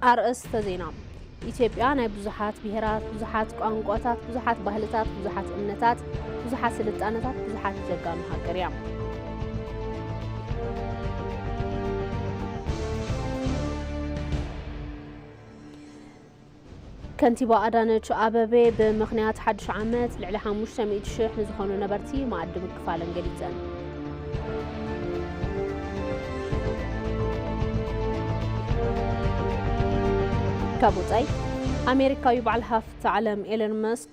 ኣርእስተ ዜና ኢትዮጵያ ናይ ብዙሓት ብሄራት፣ ብዙሓት ቋንቋታት፣ ብዙሓት ባህልታት፣ ብዙሓት እምነታት፣ ብዙሓት ስልጣነታት፣ ብዙሓት ጀጋኑ ሃገር እያ። ከንቲባ ኣዳነች ኣበቤ ብምኽንያት ሓድሽ ዓመት ልዕሊ ሓሙሽተ ሚእቲ ሽሕ ንዝኾኑ ነበርቲ መኣዲ ምክፋለን ገሊፀን። ካብ ወፃኢ ኣሜሪካዊ በዓል ሃፍቲ ዓለም ኤለን መስክ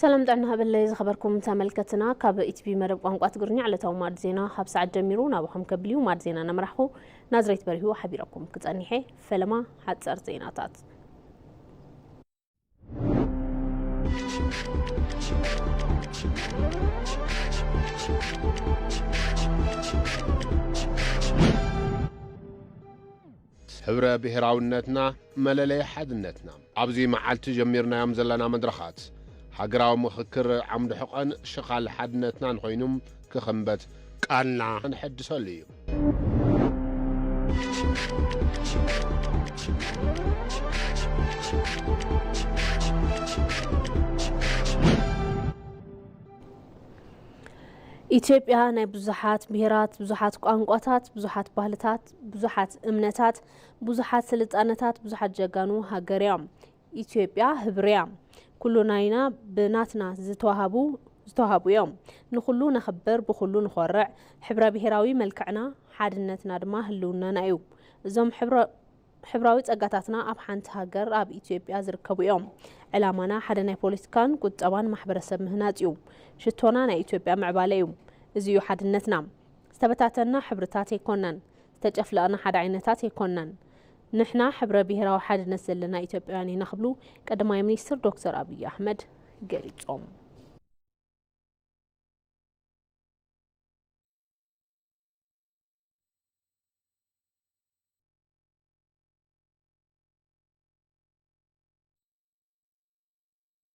ሰላም ጥዕና ሃበለይ ዝኸበርኩም ተመልከትና ካብ ኢቲቪ መደብ ቋንቋ ትግርኛ ዕለታዊ ማዕድ ዜና ካብ ሰዓት ጀሚሩ ናባኹም ከብልዩ ማዕድ ዜና ነምራሕኹ ናዝሬት በሪሁ ሓቢረኩም ክጸኒሐ ፈለማ ሓጸር ዜናታት ሕብረ ብሄራዊነትና መለለዪ ሓድነትና። ኣብዚ መዓልቲ ጀሚርናዮም ዘለና መድረኻት ሃገራዊ ምኽክር ዓምዲ ሕቘን ሽኻል ሓድነትናን ኾይኑ ክኽምበት ቃልና ነሐድሰሉ እዩ። ኢትዮጵያ ናይ ብዙሓት ብሄራት፣ ብዙሓት ቋንቋታት፣ ብዙሓት ባህልታት፣ ብዙሓት እምነታት ብዙሓት ስልጣነታት ብዙሓት ጀጋኑ ሃገር እዮም ኢትዮጵያ ህብር እያ ኩሉ ናይና ብናትና ዝተዋሃቡ ዝተዋሃቡ እዮም ንኹሉ ነኽብር ብኹሉ ንኾርዕ ሕብረ ብሔራዊ መልክዕና ሓድነትና ድማ ህልውናና እዩ እዞም ሕብራዊ ጸጋታትና ኣብ ሓንቲ ሃገር ኣብ ኢትዮጵያ ዝርከቡ እዮም ዕላማና ሓደ ናይ ፖለቲካን ቁጠባን ማሕበረሰብ ምህናጽ እዩ ሽቶና ናይ ኢትዮጵያ ምዕባለ እዩ እዚ እዩ ሓድነትና ዝተበታተንና ሕብርታት ኣይኮናን፣ ዝተጨፍለቕና ሓደ ዓይነታት ኣይኮናን፣ ንሕና ሕብረ ብሄራዊ ሓድነት ዘለና ኢትዮጵያውያን ኢና ክብሉ ቀዳማይ ሚኒስትር ዶክተር ኣብዪ ኣሕመድ ገሊፆም።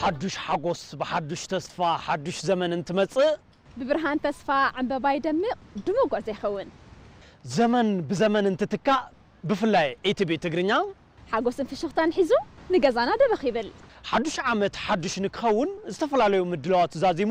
ሓዱሽ ሓጎስ ብሓዱሽ ተስፋ ሓዱሽ ዘመን እንትመጽእ ብብርሃን ተስፋ ዕምበባ ይደምቕ ድሙቕ ጉዕዞ ይኸውን። ዘመን ብዘመን እንትትካእ ብፍላይ ኢቲቪ ትግርኛ ሓጎስን ፍሽኽታን ሒዙ ንገዛና ደበኽ ይብል። ሓዱሽ ዓመት ሓዱሽ ንክኸውን ዝተፈላለዩ ምድላዋት ዛዚሙ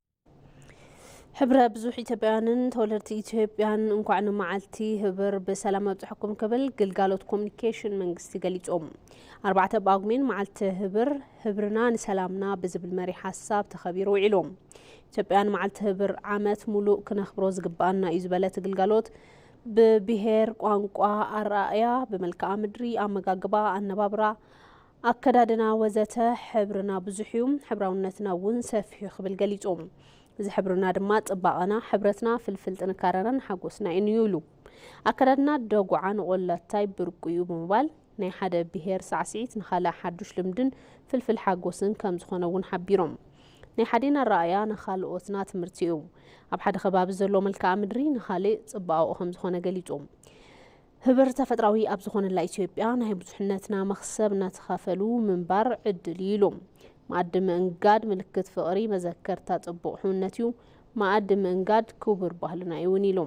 ሕብረ ብዙሕ ኢትዮጵያውያንን ተወለድቲ ኢትዮጵያን እንኳዕ ንመዓልቲ ህብር ብሰላም ኣብፅሐኩም ክብል ግልጋሎት ኮሚኒኬሽን መንግስቲ ገሊፆም። ኣርባዕተ ጳጉሜን መዓልቲ ህብር ህብርና ንሰላምና ብዝብል መሪ ሓሳብ ተኸቢሩ ውዒሉ። ኢትዮጵያውያን መዓልቲ ህብር ዓመት ሙሉእ ክነኽብሮ ዝግባኣና እዩ ዝበለት ግልጋሎት ብብሄር፣ ቋንቋ፣ ኣረኣእያ፣ ብመልክዓ ምድሪ፣ ኣመጋግባ፣ ኣነባብራ ኣከዳድና ወዘተ ሕብርና ብዙሕ እዩ፣ ሕብራውነትና እውን ሰፊሕ እዩ ክብል ገሊጹ። እዚ ሕብርና ድማ ጽባቐና፣ ሕብረትና፣ ፍልፍል ጥንካረናን ሓጎስናይን እዩ ኢሉ። ኣከዳድና ደጉዓ ንቆላታይ ብርቁ እዩ ብምባል፣ ናይ ሓደ ብሄር ሳዕስዒት ንኻልእ ሓዱሽ ልምድን ፍልፍል ሓጎስን ከምዝኾነ እውን ሓቢሮም። ናይ ሓዴና ኣረኣእያ ንኻልኦትና ትምህርቲ እዩ። ኣብ ሓደ ከባቢ ዘሎ መልክኣ ምድሪ ንኻሊእ ጽባቐኡ ከምዝኾነ ገሊጹ። ህብር ተፈጥራዊ ኣብ ዝኾነላ ኢትዮጵያ ናይ ብዙሕነትና መኽሰብ እናተኻፈሉ ምንባር ዕድል እዩ ኢሉ። መኣዲ ምእንጋድ ምልክት ፍቕሪ፣ መዘከርታ ጽቡቕ ሕውነት እዩ። መኣዲ ምእንጋድ ክቡር ባህልና እዩ እውን ኢሉ።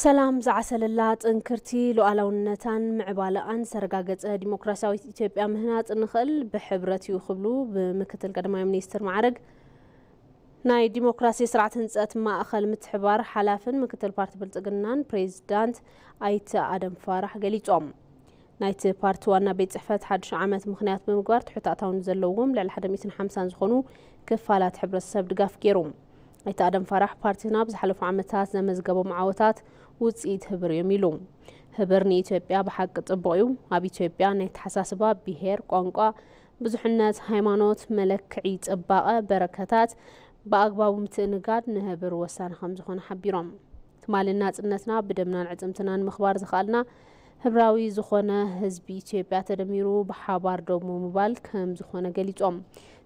ሰላም ዝዓሰለላ ጥንክርቲ ሉዓላውነታን ምዕባለኣን ዝተረጋገፀ ዲሞክራሲያዊት ኢትዮጵያ ምህናፅ እንኽእል ብሕብረት እዩ ክብሉ ብምክትል ቀዳማይ ሚኒስትር ማዕረግ ናይ ዲሞክራሲ ስርዓት ህንፀት ማእኸል ምትሕባር ሓላፍን ምክትል ፓርቲ ብልፅግናን ፕሬዚዳንት ኣይተ ኣደም ፋራሕ ገሊፆም። ናይቲ ፓርቲ ዋና ቤት ፅሕፈት ሓድሽ ዓመት ምክንያት ብምግባር ትሑት ኣታውን ዘለዎም ልዕሊ 150 ዝኾኑ ክፋላት ሕብረተሰብ ድጋፍ ገይሮም። ኣይተ ኣደም ፋራሕ ፓርቲና ኣብ ዝሓለፉ ዓመታት ዘመዝገቦም ዓወታት ውፅኢት ህብር እዮም ኢሉ። ህብር ንኢትዮጵያ ብሓቂ ፅቡቕ እዩ። ኣብ ኢትዮጵያ ናይ ተሓሳስባ ብሄር፣ ቋንቋ፣ ብዙሕነት፣ ሃይማኖት፣ መለክዒ ፅባቐ፣ በረከታት ብኣግባቡ ምትእንጋድ ንህብር ወሳኒ ከምዝኾነ ሓቢሮም። ትማሊ ናፅነትና ብደምናን ዕፅምትናን ምኽባር ዝኸኣልና ህብራዊ ዝኾነ ህዝቢ ኢትዮጵያ ተደሚሩ ብሓባር ደው ምባል ከም ዝኾነ ገሊፆም።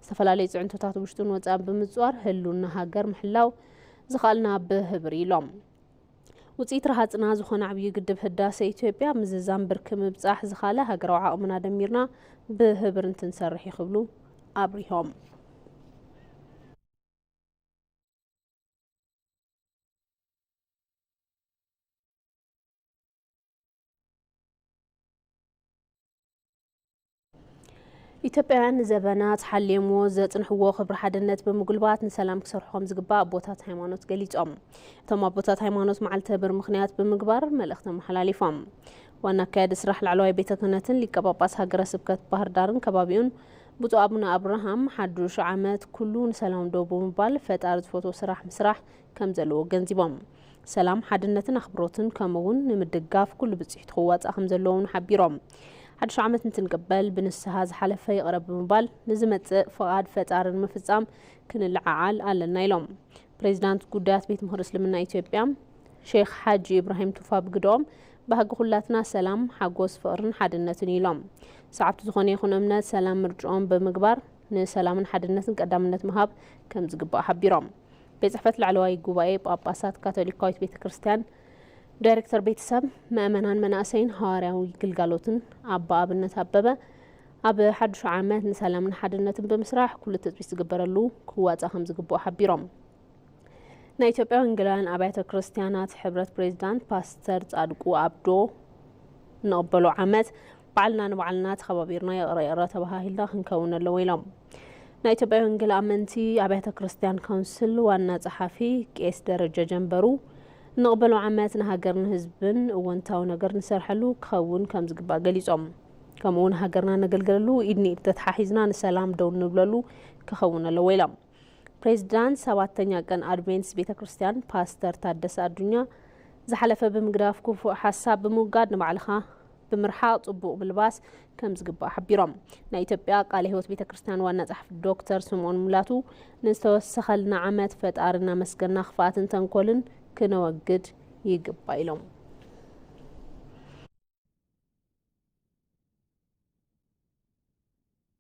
ዝተፈላለዩ ፅዕንቶታት ውሽጡን ወፃን ብምፅዋር ህሉና ሃገር ምሕላው ዝኸኣልና ብህብር ኢሎም። ውፅኢት ረሃፅና ዝኾነ ዓብዩ ግድብ ህዳሰ ኢትዮጵያ ምዝዛም ብርኪ ምብፃሕ ዝኻለ ሃገራዊ ዓቕምና ደሚርና ብህብር እንትንሰርሕ እዩ ክብሉ ኣብሪሆም። ኢትዮጵያውያን ንዘበናት ሓልየምዎ ዘፅንሕዎ ክብሪ ሓድነት ብምጉልባት ንሰላም ክሰርሑ ከም ዝግባእ ኣቦታት ሃይማኖት ገሊፆም። እቶም ኣቦታት ሃይማኖት መዓልተ ብር ምክንያት ብምግባር መልእኽቲ ኣመሓላሊፎም። ዋና ኣካያዲ ስራሕ ላዕለዋይ ቤተ ክህነትን ሊቀ ጳጳስ ሃገረ ስብከት ባህር ዳርን ከባቢኡን ብፁዕ ኣቡነ ኣብርሃም ሓዱሽ ዓመት ኩሉ ንሰላም ደው ብምባል ፈጣሪ ዝፈትዎ ስራሕ ምስራሕ ከም ዘለዎ ገንዚቦም። ሰላም፣ ሓድነትን ኣኽብሮትን ከምኡ እውን ንምድጋፍ ኩሉ ብፅሒቱ ክዋፃእ ከም ዘለዎ እውን ሓቢሮም። ሓድሽ ዓመት እንትንቅበል ብንስሃ ዝሓለፈ ይቕረ ብምባል ንዝመፅእ ፍቓድ ፈጣሪ ንምፍፃም ክንልዓዓል ኣለና ኢሎም። ፕሬዚዳንት ጉዳያት ቤት ምኽሪ እስልምና ኢትዮጵያ ሼክ ሓጂ ኢብራሂም ቱፋ ብግደኦም ባህጊ ኩላትና ሰላም፣ ሓጎስ፣ ፍቕርን ሓድነትን እዩ ኢሎም። ሰዓብቲ ዝኾነ ይኹን እምነት ሰላም ምርጭኦም ብምግባር ንሰላምን ሓድነትን ቀዳምነት ምሃብ ከም ዝግባእ ሓቢሮም። ቤት ጽሕፈት ላዕለዋይ ጉባኤ ጳጳሳት ካቶሊካዊት ቤተ ክርስቲያን ዳይሬክተር ቤተሰብ መእመናን መናእሰይን ሃዋርያዊ ግልጋሎትን ኣባ ኣብነት ኣበበ ኣብ ሓዱሽ ዓመት ንሰላምን ሓድነትን ብምስራሕ ኩሉ ትፅቢት ዝግበረሉ ክዋፃእ ከም ዝግብኦ ሓቢሮም ናይ ኢትዮጵያ ወንጌላውያን ኣብያተ ክርስቲያናት ሕብረት ፕሬዚዳንት ፓስተር ጻድቁ ኣብዶ ንቕበሎ ዓመት ባዕልና ንባዕልና ተኸባቢርና ይቕረ ይቕረ ተበሃሂልና ክንከውን ኣለዎ ኢሎም። ናይ ኢትዮጵያ ወንጌል ኣመንቲ ኣብያተ ክርስቲያን ካውንስል ዋና ጸሓፊ ቄስ ደረጀ ጀንበሩ ንቕበሎ ዓመት ንሃገርን ህዝብን እወንታዊ ነገር ንሰርሐሉ ክኸውን ከም ዝግባእ ገሊጾም። ከምኡውን ሃገርና ነገልግለሉ ኢድ ንኢድ ተተሓሒዝና ንሰላም ደው ንብለሉ ክኸውን ኣለዎ ኢሎም። ፕሬዚዳንት ሰባተኛ ቀን ኣድቬንትስ ቤተ ክርስቲያን ፓስተር ታደሰ ኣዱኛ ዝሓለፈ ብምግዳፍ ክፉእ ሓሳብ ብምውጋድ ንባዕልኻ ብምርሓቕ ጽቡቕ ምልባስ ከም ዝግባእ ሓቢሮም ናይ ኢትዮጵያ ቃለ ህይወት ቤተ ክርስቲያን ዋና ጸሓፊ ዶክተር ስምኦን ሙላቱ ንዝተወሰኸልና ዓመት ፈጣሪ እናመስገና ክፍኣትን ተንኮልን ክነወግድ ይግባ ኢሎም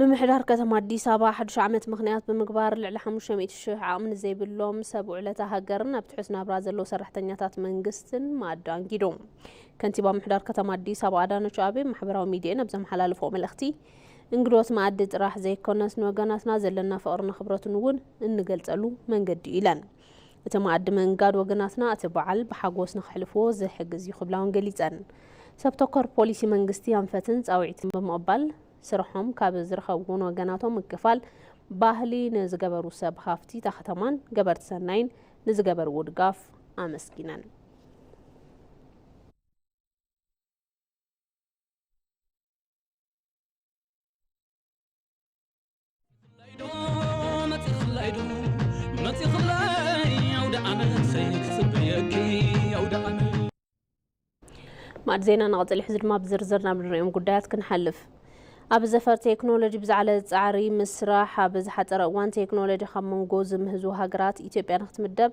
ምምሕዳር ከተማ ኣዲስ ኣበባ ሓዱሽ ዓመት ምክንያት ብምግባር ልዕሊ 500 ሽሕ ዓቕሚ ንዘይብሎም ሰብ ውዕለታ ሃገርን ኣብ ትሑት ናብራ ዘለዉ ሰራሕተኛታት መንግስትን ማዕዶ ኣንጊዱ። ከንቲባ ምሕዳር ከተማ ኣዲስ ኣበባ ኣዳነች ኣቤ ማሕበራዊ ሚዲየን ኣብ ዘመሓላለፎ መልእኽቲ እንግዶት መኣዲ ጥራሕ ዘይኮነስ ንወገናትና ዘለና ፍቕርን ኣኽብረትን እውን እንገልጸሉ መንገዲ እዩ ኢለን። እቲ መኣዲ ምእንጋድ ወገናትና እቲ በዓል ብሓጎስ ንከሕልፍዎ ዝሕግዝ እዩ ክብላ እውን ገሊፀን። ሰብ ተኮር ፖሊሲ መንግስቲ ኣንፈትን ፃውዒትን ብምቕባል ስርሖም ካብ ዝረኸብዎን ወገናቶም ምክፋል ባህሊ ንዝገበሩ ሰብ ሃፍቲ እታ ከተማን ገበርቲ ሰናይን ንዝገበርዎ ድጋፍ ኣመስጊነን። ማዕድ ዜና ንቐፅል ሕዚ ድማ ብዝርዝር ናብ ንሪኦም ጉዳያት ክንሓልፍ ኣብ ዘፈር ቴክኖሎጂ ብዛዕለ ፃዕሪ ምስራሕ ኣብ ዝሓፀረ እዋን ቴክኖሎጂ ካብ መንጎ ዝምህዙ ሃገራት ኢትዮጵያ ንክትምደብ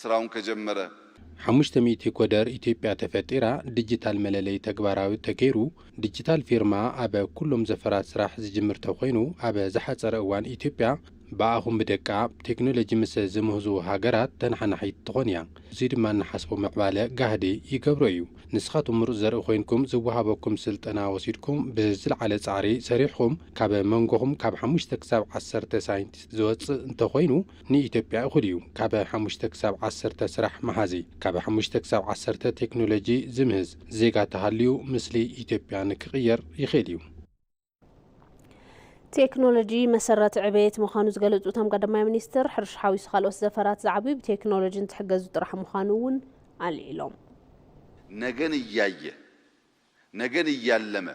ስራውን ከጀመረ። ሓሙሽተ ሚእቲ ኮደር ኢትዮጵያ ተፈጢራ፣ ዲጂታል መለለዪ ተግባራዊ ተገይሩ፣ ዲጂታል ፊርማ ኣብ ኩሎም ዘፈራት ስራሕ ዝጅምር ተኾይኑ ኣብ ዝሓፀረ እዋን ኢትዮጵያ ብኣኹም ብደቃ ብቴክኖሎጂ ምስ ዝምህዙ ሃገራት ተነሓናሒት ትኾን እያ። እዙይ ድማ እንሓስቦ ምዕባለ ጋህዲ ይገብሮ እዩ። ንስኻትኩም ምሩፅ ዘርኢ ኮይንኩም ዝወሃበኩም ስልጠና ወሲድኩም ብዝለዓለ ፃዕሪ ሰሪሕኹም ካብ መንጎኹም ካብ ሓሙሽተ ክሳብ ዓሰርተ ሳይንቲስት ዝወፅእ እንተኾይኑ ንኢትዮጵያ እኹል እዩ። ካብ ሓሙሽተ ክሳብ ዓሰርተ ስራሕ መሃዚ፣ ካብ ሓሙሽተ ክሳብ ዓሰርተ ቴክኖሎጂ ዝምህዝ ዜጋ ተሃልዩ ምስሊ ኢትዮጵያ ንክቕየር ይኽእል እዩ። ቴክኖሎጂ መሰረት ዕቤት ምዃኑ ዝገለፁ እቶም ቀዳማይ ሚኒስትር ሕርሻ ሓዊሱ ካልኦት ዘፈራት ዝዓብዩ ብቴክኖሎጂ እንትሕገዙ ጥራሕ ምዃኑ እውን ኣልዒሎም። ነገን እያየ ነገን እያለመ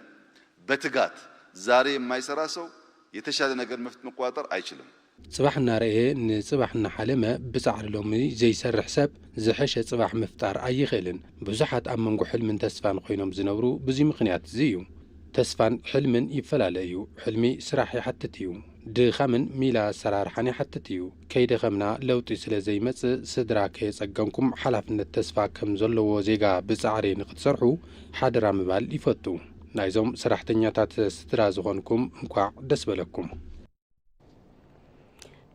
በትጋት ዛሬ የማይሰራ ሰው የተሻለ ነገር መፍት መቆጣጠር ኣይችልም። ፅባሕ እናረኣየ ንፅባሕ እናሓለመ ብፃዕሪ ሎሚ ዘይሰርሕ ሰብ ዝሐሸ ፅባሕ ምፍጣር ኣይኽእልን። ብዙሓት ኣብ መንጎ ሕልምን ተስፋን ኾይኖም ዝነብሩ ብዙይ ምኽንያት እዙይ እዩ። ተስፋን ሕልምን ይፈላለ እዩ። ሕልሚ ስራሕ ይሓትት እዩ። ድኻምን ሚላ ኣሰራርሓን ይሓትት እዩ። ከይደኸምና ለውጢ ስለ ዘይመጽእ ስድራ ከየጸገምኩም ሓላፍነት ተስፋ ከም ዘለዎ ዜጋ ብጻዕሪ ንክትሰርሑ ሓደራ ምባል ይፈቱ። ናይዞም ሰራሕተኛታት ስድራ ዝኾንኩም እንኳዕ ደስ በለኩም።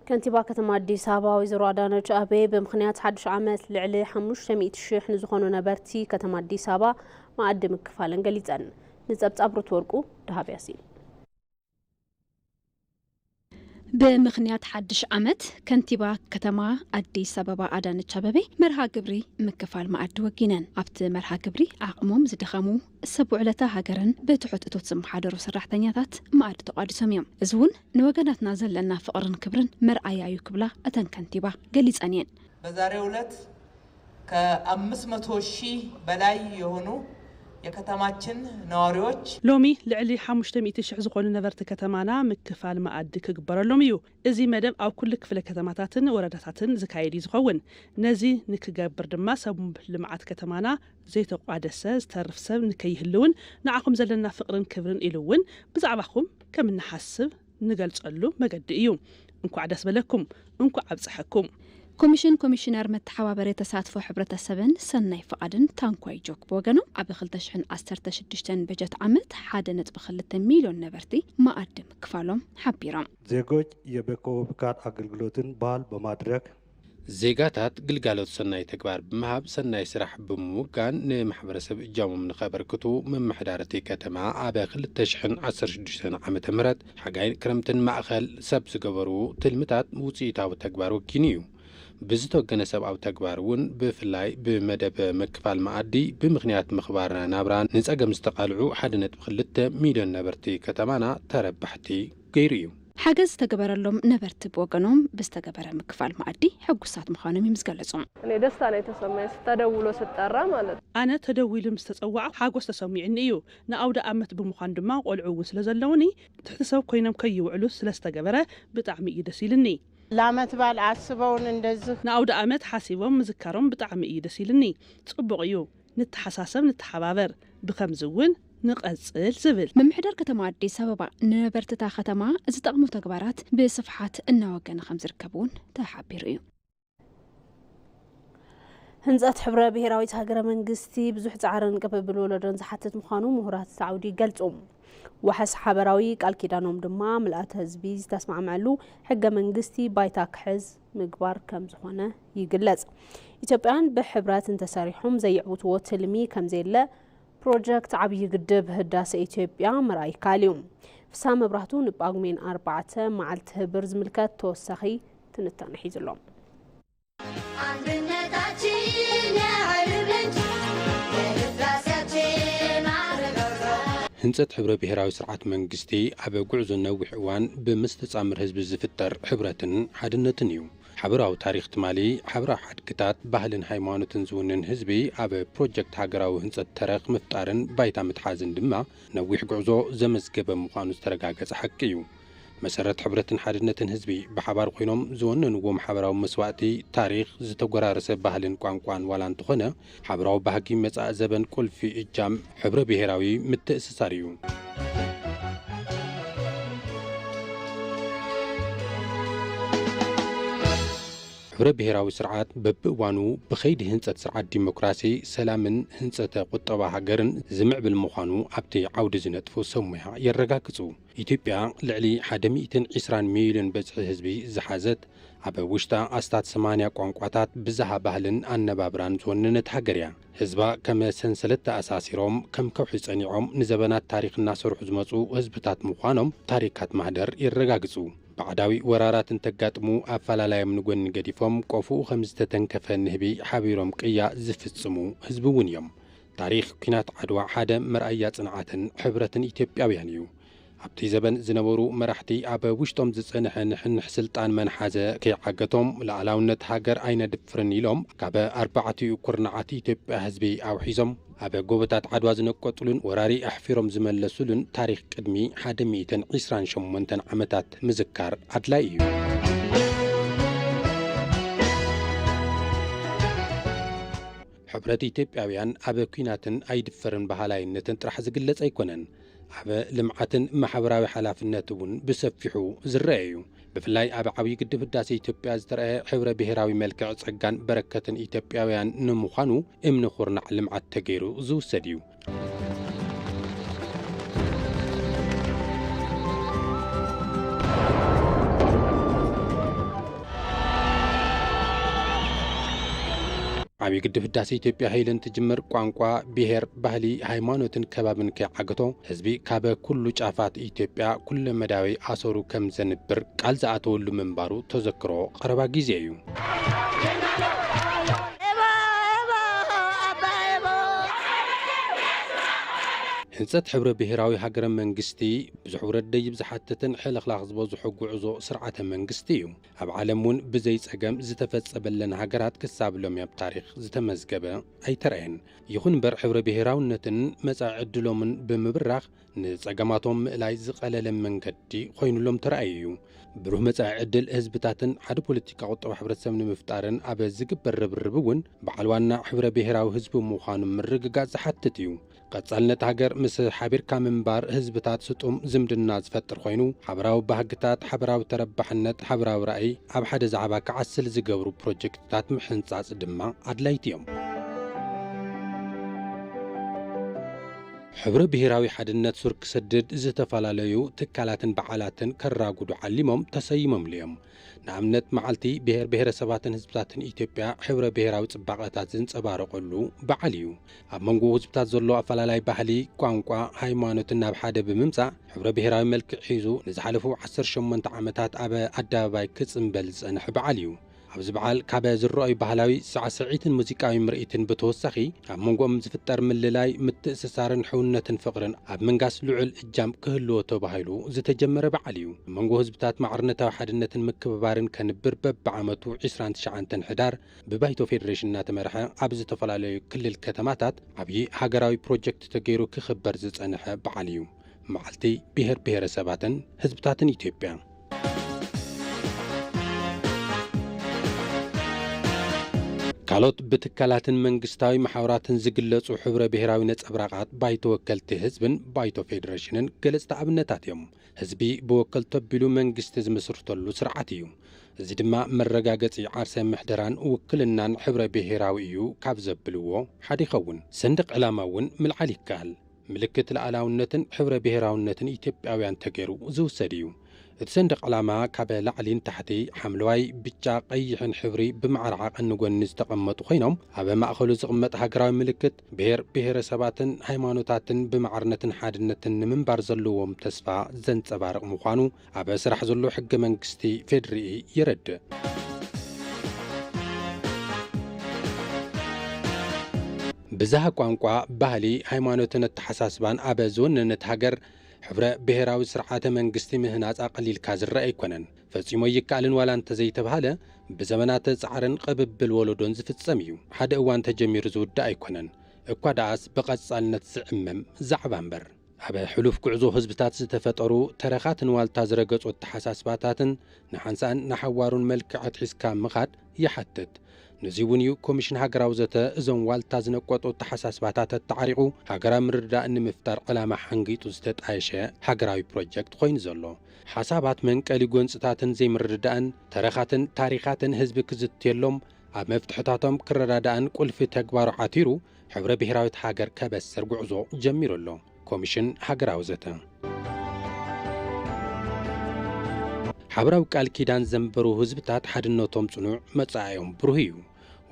ከንቲባ ከተማ ኣዲስ ኣበባ ወይዘሮ ኣዳነች ኣቤ ብምክንያት ሓዱሽ ዓመት ልዕሊ 500 ሽሕ ንዝኾኑ ነበርቲ ከተማ ኣዲስ ኣበባ መኣዲ ምክፋለን ገሊፀን። ንፀብፃብ ሩት ወርቁ ደሃብ ያሲን ብምኽንያት ሓድሽ ዓመት ከንቲባ ከተማ ኣዲስ ኣበባ ኣዳነች ኣበቤ መርሃ ግብሪ ምክፋል መኣዲ ወጊነን። ኣብቲ መርሃ ግብሪ ዓቕሞም ዝደኸሙ ሰብ ውዕለታ ሃገርን ብትሑት እቶት ዝመሓደሩ ሰራሕተኛታት መኣዲ ተቋዲሶም እዮም። እዚ እውን ንወገናትና ዘለና ፍቕርን ክብርን መርኣያ እዩ ክብላ እተን ከንቲባ ገሊፀን እየን። በዛሬው ዕለት ከኣምስት መቶ ሺህ በላይ የሆኑ የከተማችን ነዋሪዎች። ሎሚ ልዕሊ ሓሙሽተ ሚእቲ ሽሕ ዝኾኑ ነበርቲ ከተማና ምክፋል መኣዲ ክግበረሎም እዩ። እዚ መደብ ኣብ ኩሉ ክፍለ ከተማታትን ወረዳታትን ዝካየድ እዩ ዝኸውን። ነዚ ንክገብር ድማ ሰብ ልምዓት ከተማና ዘይተቋደሰ ዝተርፍ ሰብ ንከይህልውን ንዓኹም ዘለና ፍቕርን ክብርን ኢሉ እውን ብዛዕባኹም ከም እንሓስብ ንገልጸሉ መገዲ እዩ። እንኳዕ ደስ በለኩም እንኳዕ ኣብፀሐኩም። ኮሚሽን ኮሚሽነር መተሓባበሪ ተሳትፎ ሕብረተሰብን ሰናይ ፍቓድን ታንኳይ ጆክ ብወገኑ ኣብ ክልተ ሽሕን ዓሰርተ ሽዱሽተን በጀት ዓመት ሓደ ነጥቢ ክልተ ሚልዮን ነበርቲ መኣዲ ምክፋሎም ሓቢሮም። ዜጎች የበከወብካን ኣገልግሎትን ባል በማድረግ፣ ዜጋታት ግልጋሎት ሰናይ ተግባር ብምሃብ ሰናይ ስራሕ ብምውጋን ንማሕበረሰብ እጃሞም ንኸበርክቱ ምምሕዳር እቲ ከተማ ኣብ ክልተ ሽሕን ዓሰርተ ሽዱሽተን ዓመተ ምህረት ሓጋይን ክረምትን ማእኸል ሰብ ዝገበሩ ትልምታት ውፅኢታዊ ተግባር ወጊኑ እዩ። ብዝተወገነ ሰብኣዊ ተግባር እውን ብፍላይ ብመደብ ምክፋል መኣዲ ብምኽንያት ምኽባር ናብራ ንፀገም ዝተቓልዑ ሓደ ነጥቢ ክልተ ሚሊዮን ነበርቲ ከተማና ተረባሕቲ ገይሩ እዩ። ሓገዝ ዝተገበረሎም ነበርቲ ብወገኖም ብዝተገበረ ምክፋል መኣዲ ሕጉሳት ምዃኖም እዮም ዝገለፁ። እኔ ደስታ ነው የተሰማኝ ስተደውሎ ስጠራ ማለት። ኣነ ተደዊሉ ምስ ተፀዋዕኩ ሓጎስ ተሰሚዑኒ እዩ። ንኣውደኣመት ብምዃን ድማ ቆልዑ እውን ስለ ዘለዉኒ ትሕቲ ሰብ ኮይኖም ከይውዕሉ ስለ ዝተገበረ ብጣዕሚ እዩ ደስ ኢሉኒ። ለዓመት በዓል ዓስበውን እንደዝኽ። ንኣውደኣመት ሓሲቦም ምዝካሮም ብጣዕሚ እዩ ደስ ኢሉኒ። ፅቡቕ እዩ። ንተሓሳሰብ ንተሓባበር ብኸምዚ እውን ንቐፅል ዝብል። ምምሕዳር ከተማ ኣዲስ ኣበባ ንነበርቲ እታ ከተማ ዝጠቕሙ ተግባራት ብስፍሓት እናወገነ ከምዝርከብ እውን ተሓቢሩ እዩ። ህንፀት ሕብረ ብሄራዊት ሃገረ መንግስቲ ብዙሕ ፃዕርን ቅብብል ወለዶን ዝሓትት ምዃኑ ምሁራት እቲ ዓውዲ ይገልፁ። ዋሕስ ሓበራዊ ቃል ኪዳኖም ድማ ምልኣተ ህዝቢ ዝተስማዕመዐሉ ሕገ መንግስቲ ባይታ ክሕዝ ምግባር ከምዝኾነ ይግለፅ። ኢትዮጵያውያን ብሕብረት እንተሰሪሖም ዘይዕውትዎ ትልሚ ከምዘየለ ፕሮጀክት ዓብዪ ግድብ ህዳሴ ኢትዮጵያ ምርኣይ ይከኣል እዩ። ፍስሃ መብራህቱ ንጳጉሜን ኣርባዕተ መዓልቲ ህብር ዝምልከት ተወሳኺ ትንታነ ሒዙ ኣሎ። ህንፀት ሕብረ ብሄራዊ ስርዓት መንግስቲ ኣብ ጉዕዞ ነዊሕ እዋን ብምስትጻምር ህዝቢ ዝፍጠር ሕብረትን ሓድነትን እዩ። ሓበራዊ ታሪኽ ትማሊ፣ ሓበራዊ ሓድግታት፣ ባህልን ሃይማኖትን ዝውንን ህዝቢ ኣብ ፕሮጀክት ሃገራዊ ህንጸት ተረኽ ምፍጣርን ባይታ ምትሓዝን ድማ ነዊሕ ጉዕዞ ዘመዝገበ ምዃኑ ዝተረጋገጸ ሓቂ እዩ። መሰረት ሕብረትን ሓድነትን ህዝቢ ብሓባር ኮይኖም ዝወነንዎም ሓበራዊ መስዋእቲ፣ ታሪኽ፣ ዝተጎራረሰ ባህልን ቋንቋን ዋላ እንተኾነ፣ ሓበራዊ ባህጊ መጻኢ ዘበን ቁልፊ እጃም ሕብረ ብሄራዊ ምትእስሳር እዩ። ሕብረ ብሄራዊ ስርዓት በብእዋኑ ብኸይዲ ህንፀት ስርዓት ዲሞክራሲ፣ ሰላምን ህንፀተ ቁጠባ ሃገርን ዝምዕብል ምዃኑ ኣብቲ ዓውዲ ዝነጥፉ ሰብ ሞያ የረጋግፁ። ኢትዮጵያ ልዕሊ ሓደ ሚእትን ዒስራን ሚልዮን በጽሒ ህዝቢ ዝሓዘት፣ ኣብ ውሽጣ ኣስታት ሰማንያ ቋንቋታት፣ ብዝሃ ባህልን ኣነባብራን ዝወነነት ሃገር እያ። ህዝባ ከም ሰንሰለት ተኣሳሲሮም፣ ከም ከውሒ ጸኒዖም ንዘበናት ታሪኽ እናሰርሑ ዝመጹ ህዝብታት ምዃኖም ታሪካት ማህደር የረጋግጹ። ባዕዳዊ ወራራት እንተጋጥሙ ኣፈላላዮም ንጎኒ ገዲፎም ቆፎኡ ከም ዝተተንከፈ ንህቢ ሓቢሮም ቅያ ዝፍጽሙ ህዝቢ እውን እዮም። ታሪኽ ኲናት ዓድዋ ሓደ መርኣያ ጽንዓትን ሕብረትን ኢትዮጵያውያን እዩ። ኣብቲ ዘበን ዝነበሩ መራሕቲ ኣብ ውሽጦም ዝጸንሐ ንሕንሕ ስልጣን መን ሓዘ ከይዓገቶም ልኣላውነት ሃገር ኣይነድፍርን ኢሎም ካብ ኣርባዕቲኡ ኩርናዓት ኢትዮጵያ ህዝቢ ኣውሒዞም ኣብ ጎቦታት ዓድዋ ዝነቀጹሉን ወራሪ ኣሕፊሮም ዝመለሱሉን ታሪኽ ቅድሚ ሓደ ሚእትን ዒስራን ሸሞንተን ዓመታት ምዝካር ኣድላይ እዩ። ሕብረት ኢትዮጵያውያን ኣብ ኲናትን ኣይድፈርን በሃላይነትን ጥራሕ ዝግለጽ ኣይኮነን። ኣብ ልምዓትን ማሕበራዊ ሓላፍነት እውን ብሰፊሑ ዝረኣ እዩ። ብፍላይ ኣብ ዓብዪ ግድብ ህዳሴ ኢትዮጵያ ዝተረኣየ ሕብረ ብሄራዊ መልክዕ ጸጋን በረከትን ኢትዮጵያውያን ንምዃኑ እምነ ኩርናዕ ልምዓት ተገይሩ ዝውሰድ እዩ። ዓብዪ ግድብ ህዳሴ ኢትዮጵያ ኃይል እንትጅምር ቋንቋ፣ ብሔር፣ ባህሊ፣ ሃይማኖትን ከባብን ከይዓገቶ ህዝቢ ካበ ኩሉ ጫፋት ኢትዮጵያ ኩለመዳያዊ ኣሰሩ ከም ዘንብር ቃል ዝኣተወሉ ምንባሩ ተዘክሮ ቐረባ ጊዜ እዩ። ህንፀት ሕብረ ብሄራዊ ሃገረ መንግስቲ ብዙሕ ውረድ ደይብ ዝሓትትን ሕልኽላኽ ዝበዝሖ ጉዕዞ ስርዓተ መንግስቲ እዩ። ኣብ ዓለም እውን ብዘይ ፀገም ዝተፈፀበለን ሃገራት ክሳብ ሎሚ ኣብ ታሪኽ ዝተመዝገበ ኣይተርኣየን። ይኹን እምበር ሕብረ ብሄራውነትን መፃኢ ዕድሎምን ብምብራኽ ንጸገማቶም ምእላይ ዝቐለለ መንገዲ ኮይኑሎም ተራእዩ እዩ። ብሩህ መጻኢ ዕድል ህዝብታትን ሓደ ፖለቲካ ቁጠባ ሕብረተሰብ ንምፍጣርን ኣብ ዝግበር ርብርብ እውን በዓል ዋና ሕብረ ብሔራዊ ህዝቢ ምዃኑ ምርግጋጽ ዝሓትት እዩ። ቀጻልነት ሃገር ምስ ሓቢርካ ምንባር ህዝብታት ስጡም ዝምድና ዝፈጥር ኮይኑ፣ ሓበራዊ ባህግታት፣ ሓበራዊ ተረባሕነት፣ ሓበራዊ ራእይ ኣብ ሓደ ዛዕባ ክዓስል ዝገብሩ ፕሮጀክትታት ምሕንጻጽ ድማ ኣድላይቲ እዮም። ሕብረ ብሄራዊ ሓድነት ሱር ክሰድድ ዝተፈላለዩ ትካላትን በዓላትን ከራጉዱ ዓሊሞም ተሰይሞምሉ እዮም። ንኣብነት መዓልቲ ብሄር ብሄረሰባትን ህዝብታትን ኢትዮጵያ ሕብረ ብሄራዊ ፅባቐታት ዝንፀባረቐሉ በዓል እዩ። ኣብ መንጎ ህዝብታት ዘሎ ኣፈላላይ ባህሊ፣ ቋንቋ፣ ሃይማኖትን ናብ ሓደ ብምምፃእ ሕብረ ብሄራዊ መልክዕ ሒዙ ንዝሓለፉ ዓሰርተ ሸሞንተ ዓመታት ኣብ ኣደባባይ ክፅምበል ዝፀንሐ በዓል እዩ። ኣብዚ በዓል ካብ ዝረኣዩ ባህላዊ ሳዕስዒትን ሙዚቃዊ ምርኢትን ብተወሳኺ ኣብ መንጎኦም ዝፍጠር ምልላይ፣ ምትእስሳርን ሕውነትን ፍቕርን ኣብ ምንጋስ ልዑል እጃም ክህልዎ ተባሂሉ ዝተጀመረ በዓል እዩ። ኣብ መንጎ ህዝብታት ማዕርነታዊ ሓድነትን ምክብባርን ከንብር በብዓመቱ ዕስራን ትሽዓንተን ሕዳር ብባይቶ ፌደሬሽን እናተመርሐ ኣብ ዝተፈላለዩ ክልል ከተማታት ዓብዪ ሃገራዊ ፕሮጀክት ተገይሩ ክኽበር ዝፀንሐ በዓል እዩ። መዓልቲ ብሄር ብሄረሰባትን ህዝብታትን ኢትዮጵያ ካልኦት ብትካላትን መንግስታዊ መሓውራትን ዝግለጹ ሕብረ ብሔራዊ ነጸብራቓት ባይቶ ወከልቲ ህዝብን ባይቶ ፌዴሬሽንን ገለጽቲ ኣብነታት እዮም። ህዝቢ ብወከልቶ ኣቢሉ መንግስቲ ዝምስርተሉ ስርዓት እዩ። እዚ ድማ መረጋገጺ ዓርሰ ምሕደራን ውክልናን ሕብረ ብሔራዊ እዩ ካብ ዘብልዎ ሓደ ይኸውን። ሰንደቕ ዕላማ እውን ምልዓል ይከኣል። ምልክት ልኣላውነትን ሕብረ ብሄራውነትን ኢትዮጵያውያን ተገይሩ ዝውሰድ እዩ። እቲ ሰንደቕ ዕላማ ካበ ላዕሊ ንታሕቲ ሓምለዋይ፣ ብጫ፣ ቀይሕን ሕብሪ ብማዕረ ዓቐን ንጎኒ ዝተቐመጡ ኮይኖም ኣበ ማእኸሉ ዝቕመጥ ሃገራዊ ምልክት ብሄር ብሄረሰባትን ሃይማኖታትን ብማዕርነትን ሓድነትን ንምንባር ዘለዎም ተስፋ ዘንፀባርቕ ምዃኑ ኣብ ስራሕ ዘሎ ሕገ መንግስቲ ፌድሪኢ የረድእ። ብዝሃ ቋንቋ፣ ባህሊ፣ ሃይማኖትን ኣተሓሳስባን ኣብ ዝወነነት ሃገር ሕብረ ብሄራዊ ስርዓተ መንግስቲ ምህናፅ ኣቐሊልካ ዝረአ ኣይኮነን። ፈፂሙ ኣይከኣልን ዋላ እንተዘይተብሃለ ብዘመናት ፃዕርን ቕብብል ወለዶን ዝፍፀም እዩ። ሓደ እዋን ተጀሚሩ ዝውዳእ ኣይኮነን። እኳ ደኣስ ብቐፃልነት ዝዕመም ዛዕባ እምበር። ኣብ ሕሉፍ ጉዕዞ ህዝብታት ዝተፈጠሩ ተረኻትን ዋልታ ዝረገጹ ኣተሓሳስባታትን ንሓንሳእን ንሓዋሩን መልክዕ ኣትሒዝካ ምኻድ ይሓትት። ነዙይ እውን እዩ ኮሚሽን ሃገራዊ ዘተ እዞም ዋልታ ዝነቆጡ ኣተሓሳስባታት ኣተዓሪቑ ሃገራዊ ምርድዳእ ንምፍጣር ዕላማ ሓንጊጡ ዝተጣየሸ ሃገራዊ ፕሮጀክት ኾይኑ ዘሎ። ሓሳባት መንቀሊ ጎንፅታትን ዘይምርድዳእን ተረኻትን ታሪኻትን ህዝቢ ክዝትየሎም ኣብ መፍትሕታቶም ክረዳዳእን ቁልፊ ተግባሩ ዓቲሩ ሕብረ ብሄራዊት ሃገር ከበስር ጉዕዞ ጀሚሩ ኣሎ፣ ኮሚሽን ሃገራዊ ዘተ። ሓበራዊ ቃል ኪዳን ዘንበሩ ህዝብታት ሓድነቶም ጽኑዕ፣ መጻኢኦም ብሩህ እዩ።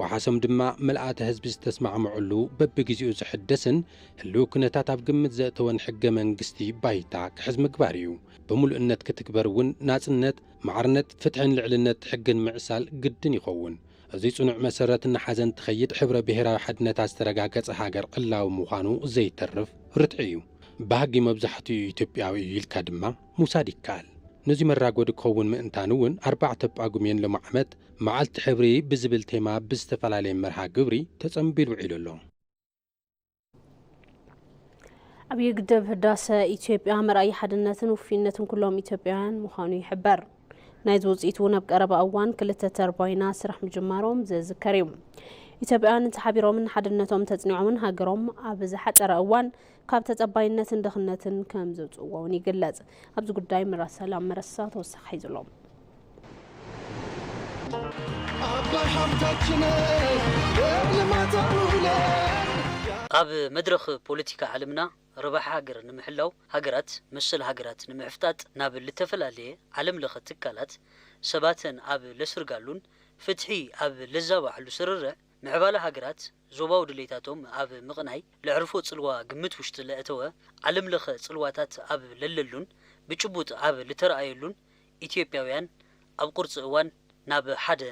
ወሓሶም ድማ ምልኣተ ህዝቢ ዝተስማዕምዕሉ በብግዜኡ ዝሕደስን ህልዊ ኩነታት ኣብ ግምት ዘእተወን ሕገ መንግስቲ ባይታ ክሕዝ ምግባር እዩ። ብምሉእነት ክትግበር እውን ናጽነት፣ ማዕርነት፣ ፍትሕን ልዕልነት ሕግን ምዕሳል ግድን ይኸውን። እዚ ጽኑዕ መሰረት እናሓዘ እንትኸይድ ሕብረ ብሄራዊ ሓድነታ ዝተረጋገጸ ሃገር ዕላዊ ምዃኑ ዘይተርፍ ርትዒ እዩ። ባህጊ መብዛሕትኡ ኢትዮጵያዊ እዩ ኢልካ ድማ ምውሳድ ይከኣል። ነዚ መራጎዲ ክኸውን ምእንታን እውን ኣርባዕተ ጳጉሜን ሎሚ ዓመት መዓልቲ ሕብሪ ብዝብል ቴማ ብዝተፈላለየ መርሃ ግብሪ ተጸንቢሉ ውዒሉ ኣሎ። ዓብዪ ግድብ ህዳሰ ኢትዮጵያ መርኣይ ሓድነትን ውፍይነትን ኩሎም ኢትዮጵያውያን ምዃኑ ይሕበር። ናይዚ ውፅኢት እውን ኣብ ቀረባ እዋን ክልተ ተርባይና ስራሕ ምጅማሮም ዘዝከር እዩ። ኢትዮጵያውያን እንተሓቢሮምን ሓድነቶም ተፅኒዖምን ሃገሮም ኣብ ዝሓፀረ እዋን ካብ ተፀባይነትን ድኽነትን ከም ዘውፅእዎ እውን ይግለፅ። ኣብዚ ጉዳይ ምራ ሰላም መረሳ ተወሳኺ ሒዙ ኣሎ። ኣብ መድረኽ ፖለቲካ ዓለምና ረብሓ ሃገር ንምሕላው ሃገራት መሰል ሃገራት ንምሕፍጣጥ ናብ ልተፈላለየ ዓለም ለኸ ትካላት ሰባተን ኣብ ለስርጋሉን ፍትሒ ኣብ ለዛባዕሉ ስርርዕ ምዕባለ ሃገራት ዞባዊ ድሌታቶም ኣብ ምቕናይ ለዕርፎ ጽልዋ ግምት ውሽጢ ለእተወ ዓለም ለኸ ጽልዋታት ኣብ ለለሉን ብጭቡጥ ኣብ ልተርኣየሉን ኢትዮጵያውያን ኣብ ቁርፂ እዋን ናብ ሓደ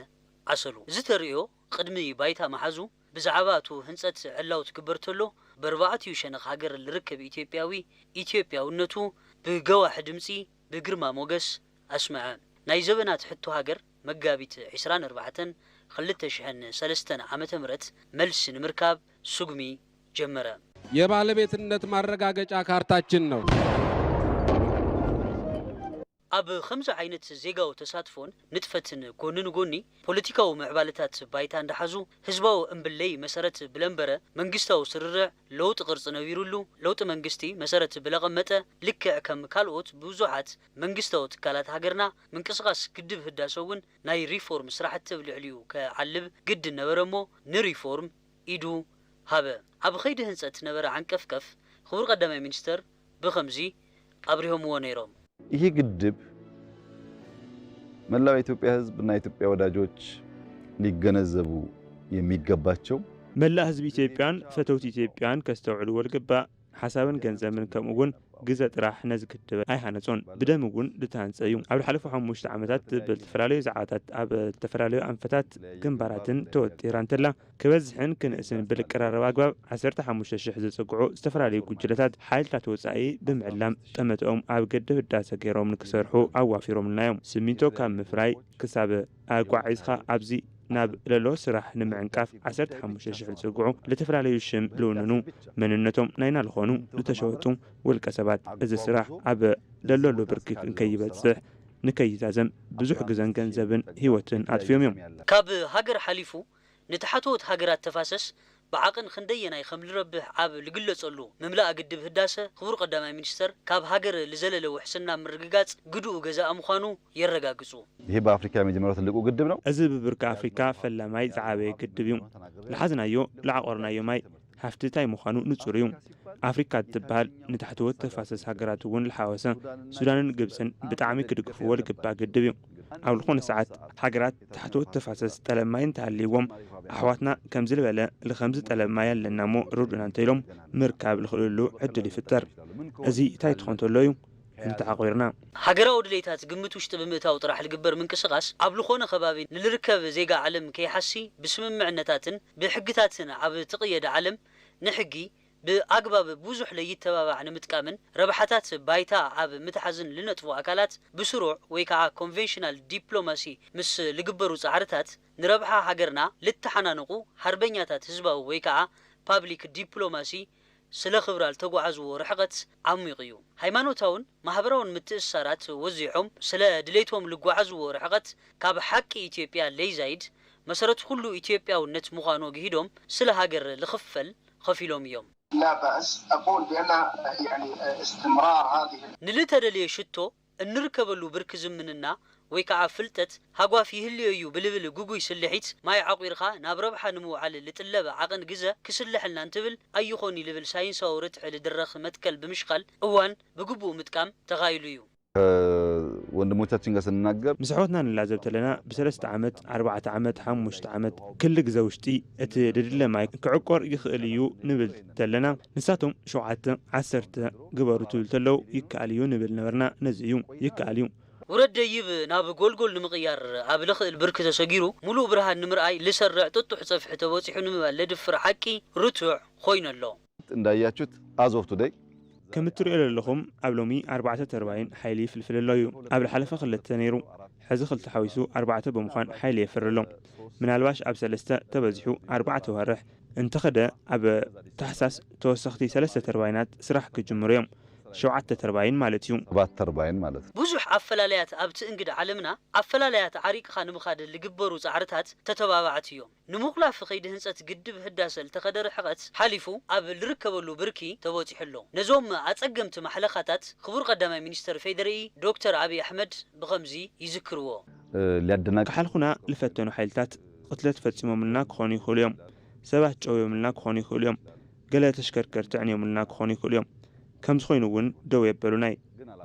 ዓሰሉ። እዚ ተርእዮ ቕድሚ ባይታ ምሓዙ ብዛዕባ እቱ ህንፀት ዕላው ትግበር ተሎ በርባዕቲኡ ሸነኽ ሃገር ልርከብ ኢትዮጵያዊ ኢትዮጵያውነቱ ብገዋሒ ድምፂ ብግርማ ሞገስ ኣስመዐ። ናይ ዘበናት ሕቶ ሃገር መጋቢት ዕስራን ኣርባዕተን ክልተ ሽሕን ሰለስተን ዓመተ ምህረት መልሲ ንምርካብ ስጉሚ ጀመረ። የባለቤትነት ማረጋገጫ ካርታችን ነው። ኣብ ኸምዚ ዓይነት ዜጋዊ ተሳትፎን ንጥፈትን ጎኒ ንጎኒ ፖለቲካዊ ምዕባለታት ባይታ እንዳሓዙ ህዝባዊ እምብለይ መሰረት ብለንበረ መንግስታዊ ስርርዕ ለውጢ ቅርፂ ነቢሩሉ ለውጢ መንግስቲ መሰረት ብለቐመጠ ልክዕ ከም ካልኦት ብዙሓት መንግስታዊ ትካላት ሃገርና ምንቅስቓስ ግድብ ህዳሰ እውን ናይ ሪፎርም ስራሕቲ ኣብ ልዕሊኡ ከዓልብ ግድን ነበረሞ ንሪፎርም ኢዱ ሃበ። ኣብ ኸይዲ ህንፀት ነበረ ዓንቀፍቀፍ ኽቡር ቐዳማይ ሚኒስትር ብኸምዚ ኣብሪሆምዎ ነይሮም። ይህ ግድብ መላው የኢትዮጵያ ህዝብ እና የኢትዮጵያ ወዳጆች ሊገነዘቡ የሚገባቸው። መላእ ህዝብ ኢትዮጵያን ፈተውቲ ኢትዮጵያን ከስተውዕልዎ ልግባእ። ሓሳብን ገንዘብን ከምኡ እውን ግዘ ጥራሕ ነዚ ግድብ ኣይሃነፆን። ብደም እውን ዝተሃንፀ እዩ። ኣብ ልሓለፉ ሓሙሽተ ዓመታት ብልተፈላለዩ ዛዕባታት ኣብ ልተፈላለዩ ኣንፈታት ግንባራትን ተወጢራ እንተላ ክበዝሕን ክንእስን ብልቀራረብ ኣግባብ ዓሰርተ ሓሙሽተ ሽሕ ዝፅግዑ ዝተፈላለዩ ጉጅለታት ሓይልታት ወፃኢ ብምዕላም ጠመተኦም ኣብ ግድብ ህዳሰ ገይሮም ንክሰርሑ ኣዋፊሮምልና እዮም። ስሚንቶ ካብ ምፍራይ ክሳብ ኣጓዒዝካ ኣብዚ ናብ ለሎ ስራሕ ንምዕንቃፍ ዓሰርተ ሓሙሽተ ሽሕ ዝጽግዑ ልተፈላለዩ ሽም ልውንኑ መንነቶም ናይና ልኾኑ ልተሸወጡ ውልቀ ሰባት እዚ ስራሕ ኣብ ለለሉ ብርኪ እንከይበጽሕ ንከይዛዘም ብዙሕ ግዘን ገንዘብን ህይወትን ኣጥፊኦም እዮም። ካብ ሃገር ሓሊፉ ንታሕተዎት ሃገራት ተፋሰስ ብዓቕን ኽንደየናይ ኸም ልረብሕ ኣብ ልግለጸሉ፣ ምምላእ ግድብ ህዳሰ ኽቡር ቐዳማይ ሚኒስተር ካብ ሃገር ልዘለለ ውሕስና ምርግጋጽ ግድኡ ገዛኢ ምዃኑ የረጋግጹ። ይህ በአፍሪካ የመጀመሪያው ትልቁ ግድብ ነው። እዚ ብብርኪ ኣፍሪካ ፈላማይ ዝዓበየ ግድብ እዩ። ልሓዝናዮ ልዓቖርናዮ ማይ ሃፍቲ ታይ ምዃኑ ንፁር እዩ። ኣፍሪካ እትበሃል ንታሕተዎት ተፋሰስ ሃገራት እውን ልሓወሰ ሱዳንን ግብፅን ብጣዕሚ ክድግፍዎ ልግባእ ግድብ እዩ። ኣብ ልኾነ ሰዓት ሃገራት ታሕተዎት ተፋሰስ ጠለብ ማይ እንተሃልይዎም ኣሕዋትና ከምዚ ልበለ ልኸምዚ ጠለብ ማይ ኣለና እሞ ርድኡና እንተኢሎም ምርካብ ልኽእልሉ ዕድል ይፍጠር። እዙይ ታይ ትኾን ተሎ እዩ? እንተዓቑርና። ሃገራዊ ድሌታት ግምት ውሽጢ ብምእታው ጥራሕ ልግበር ምንቅስቓስ ኣብ ልኾነ ከባቢ ንልርከብ ዜጋ ዓለም ከይሓሲ ብስምምዕነታትን ብሕግታትን ኣብ ትቕየድ ዓለም ንሕጊ ብኣግባብ ብዙሕ ለይተባባዕ ንምጥቃምን ረብሓታት ባይታ ኣብ ምትሓዝን ልነጥፉ ኣካላት ብስሩዕ ወይ ከዓ ኮንቬንሽናል ዲፕሎማሲ ምስ ልግበሩ ፃዕርታት ንረብሓ ሃገርና ልተሓናንቑ ሓርበኛታት ህዝባዊ ወይ ከዓ ፓብሊክ ዲፕሎማሲ ስለ ክብራ ልተጓዓዝዎ ርሕቐት ዓሚቕ እዩ። ሃይማኖታውን ማህበራውን ምትእስሳራት ወዚሖም ስለ ድሌቶም ልጓዓዝዎ ርሕቐት ካብ ሓቂ ኢትዮጵያ ለይዛይድ መሰረት ኹሉ ኢትዮጵያውነት ምዃኑ ኣግሂዶም ስለ ሃገር ልኽፈል ኸፊሎም እዮም። ላባእስ ኣቁል ብኣና ያኒ እስትምራር ሃዚህ። ንልተደልየ ሽቶ እንርከበሉ ብርኪ ዝምንና ወይ ከዓ ፍልጠት ሃጓፍ ይህልዮ እዩ ብልብል ግጉይ ስልሒት ማይ ዓቑርካ ናብ ረብሓ ንምውዓል ልጥለብ ዓቕን ግዘ ክስለሐልና እንትብል ኣይኾን እዩ ልብል ሳይንሳዊ ርትዒ ልድረኽ መትከል ብምሽካል እዋን ብግቡእ ምጥቃም ተኻኢሉ እዩ። ከወንድሞቻችን ጋር ስንናገር። ምስ ኣሕዋትና ንላዘብ ተለና ብሰለስተ ዓመት፣ ኣርባዕተ ዓመት፣ ሓሙሽተ ዓመት፣ ክል ግዘ ውሽጢ እቲ ልድለ ማይ ክዕቆር ይኽእል እዩ ንብል ተለና ንሳቶም ሸውዓተ፣ ዓሰርተ፣ ግበሩ ትብል ተለው ይከኣል እዩ ንብል ነበርና ነዚ እዩ ይከኣል እዩ። ውረድ ደይብ ናብ ጎልጎል ንምቕያር ኣብ ለኽእል ብርኪ ተሰጊሩ ሙሉእ ብርሃን ንምርኣይ ልሰርዕ ጥጡሕ ፀፍሒ ተበፂሑ ንምባል ለድፍር ሓቂ ርቱዕ ኾይኑ ኣሎ። እንዳያችሁት ኣዞር ቱደይ። ከም እትሪኦ ለለኹም ኣብ ሎሚ ኣርባዕተ ተርባይን ሓይሊ ይፍልፍል ኣሎ እዩ ኣብ ልሓለፈ ክልተ ነይሩ ሕዚ ክልተ ሓዊሱ ኣርባዕተ ብምዃን ሓይሊ የፍሪ ኣሎ ምናልባሽ ኣብ ሰለስተ ተበዚሑ ኣርባዕተ ዋርሕ እንተኸደ ኣብ ታሕሳስ ተወሰኽቲ ሰለስተ ተርባይናት ስራሕ ክጅምሩ እዮም፣ ሸውዓተ ተርባይን ማለት እዩ። ሰባት ተርባይን ማለት እዩ። ብዙሕ ኣፈላላያት ኣብቲ እንግዳ ዓለምና ኣፈላላያት ዓሪቅኻ ንምኻድ ልግበሩ ጻዕርታት ተተባባዕቲ እዮም። ንምቑላፍ ከይዲ ህንፀት ግድብ ህዳሰ ልተኸደ ርሕቐት ሓሊፉ ኣብ ልርከበሉ ብርኪ ተበፂሑ ኣሎ። ነዞም ኣፀገምቲ ማሕለኻታት ክቡር ቀዳማይ ሚኒስትር ፌዴሪኢ ዶክተር ኣብይ ኣሕመድ ብኸምዚ ይዝክርዎ። ክሓልኹና ልፈተኑ ሓይልታት ቕትለት ፈጺሞምልና ክዀኑ ይኽእሉ እዮም። ሰባት ጨውዮምልና ክዀኑ ይኽእሉ እዮም። ገለ ተሽከርከርቲ ኣዕንዮምልና ክዀኑ ይኽእሉ እዮም። ከምዚ ዀይኑ እውን ደው የበሉናይ።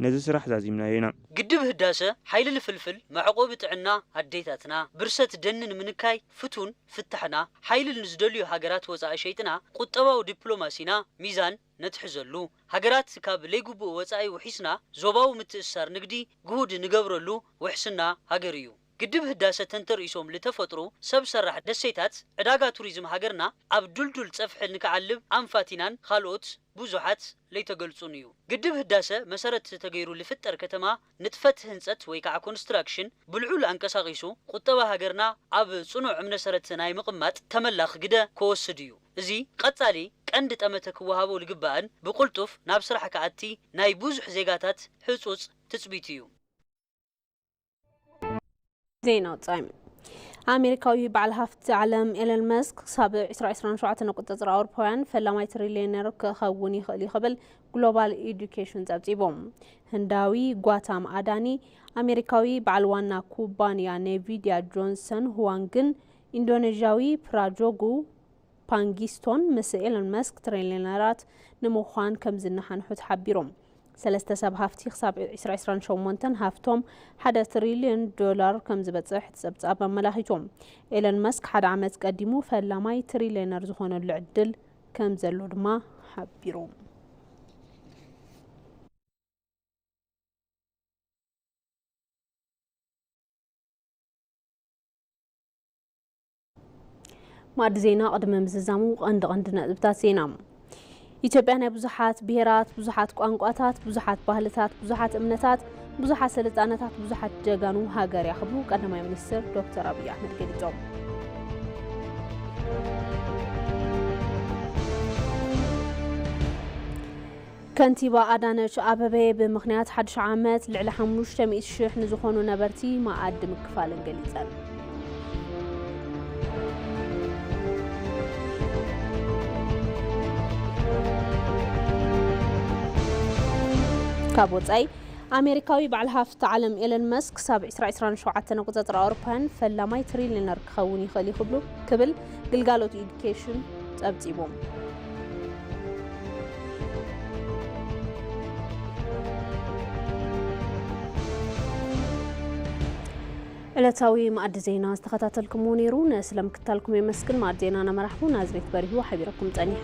ነዚ ስራሕ ዛዚምናዮ ኢና። ግድብ ህዳሰ ሓይሊ ንፍልፍል፣ መዕቖቢ ጥዕና ኣዴታትና፣ ብርሰት ደኒ ንምንካይ ፍቱን፣ ፍታሕና ሓይሊ ንዝደልዩ ሃገራት ወጻኢ ሸይጥና ቁጠባዊ ዲፕሎማሲና ሚዛን ነትሕዘሉ፣ ሃገራት ካብ ለይግቡእ ወጻኢ ውሒስና ዞባዊ ምትእስሳር ንግዲ ግሁድ ንገብረሉ ውሕስና ሃገር እዩ። ግድብ ህዳሰ ተንተርኢሶም ልተፈጥሩ ሰብ ሰራሕ ደሴታት ዕዳጋ ቱሪዝም ሃገርና ኣብ ዱልዱል ፀፍሒ ንክዓልብ ኣንፋቲናን ኻልኦት ቡዙሓት ለይተገልፁን እዩ። ግድብ ህዳሰ መሰረት ተገይሩ ልፍጠር ከተማ ንጥፈት ህንፀት ወይ ከዓ ኮንስትራክሽን ብልዑል ኣንቀሳቂሱ ቁጠባ ሃገርና ኣብ ፅኑዕ እምነሰረት ናይ ምቅማጥ ተመላኽ ግደ ከወስድ እዩ። እዚ ቐፃሊ ቀንዲ ጠመተ ክወሃቦ ልግባእን ብቁልጡፍ ናብ ስራሕ ክኣቲ ናይ ቡዙሕ ዜጋታት ህፁፅ ትፅቢት እዩ። ዜና ወፃኢ ኣሜሪካዊ በዓል ሃፍቲ ዓለም ኤለን መስክ ክሳብ 2027 ንቁፅፅር ኣውሮፓውያን ፈላማይ ትሪልየነር ክኸውን ይኽእል እዩ ክብል ግሎባል ኤዱኬሽን ጸብጺቦም ህንዳዊ ጓታም ኣዳኒ ኣሜሪካዊ በዓል ዋና ኩባንያ ኔቪድያ ጆንሰን ሁዋንግን ኢንዶኔዥያዊ ፕራጆጉ ፓንጊስቶን ምስ ኤሎን መስክ ትሪልየነራት ንምዃን ከምዝነሓንሑ ተሓቢሩ። ሰለስተ ሰብ ሃፍቲ ክሳብ 2028 ሃፍቶም ሓደ ትሪልዮን ዶላር ከምዝበጽሕ እቲ ጸብጻብ ኣመላኺቱ። ኤሎን መስክ ሓደ ዓመት ቀዲሙ ፈላማይ ትሪልየነር ዝኾነሉ ዕድል ከምዘሎ ድማ ሓቢሩ። ማዕዲ ዜና ቅድሚ ምዝዛሙ ቀንዲ ቀንዲ ነጥብታት ዜና ኢትዮጵያ ናይ ብዙሓት ብሔራት፣ ብዙሓት ቋንቋታት፣ ብዙሓት ባህልታት፣ ብዙሓት እምነታት፣ ብዙሓት ስልጣነታት፣ ብዙሓት ጀጋኑ ሃገር እያ ክብሉ ቀዳማይ ሚኒስትር ዶክተር ኣብዪ ኣሕመድ ገሊፆም። ከንቲባ ኣዳነች ኣበቤ ብምኽንያት ሓዱሽ ዓመት ልዕሊ ሓሙሽተ ሚእቲ ሽሕ ንዝኾኑ ነበርቲ መኣዲ ምክፋለን ገሊፀን። ካብ ወፃኢ ኣሜሪካዊ በዓል ሃፍቲ ዓለም ኤለን መስክ ክሳብ 2027 ኣቆፃፅራ ኣውሮፓውያን ፈላማይ ትሪሊነር ክኸውን ይኽእል እዩ ክብሉ ክብል ግልጋሎት ኢዱኬሽን ፀብፂቡ። ዕለታዊ መኣዲ ዜና ዝተኸታተልኩምዎ ነይሩ። ንስለ ምክታልኩም የመስግን። መኣዲ ዜናና መራሕቡ ናዝሬት በሪሁ ሓቢረኩም ጸኒሐ።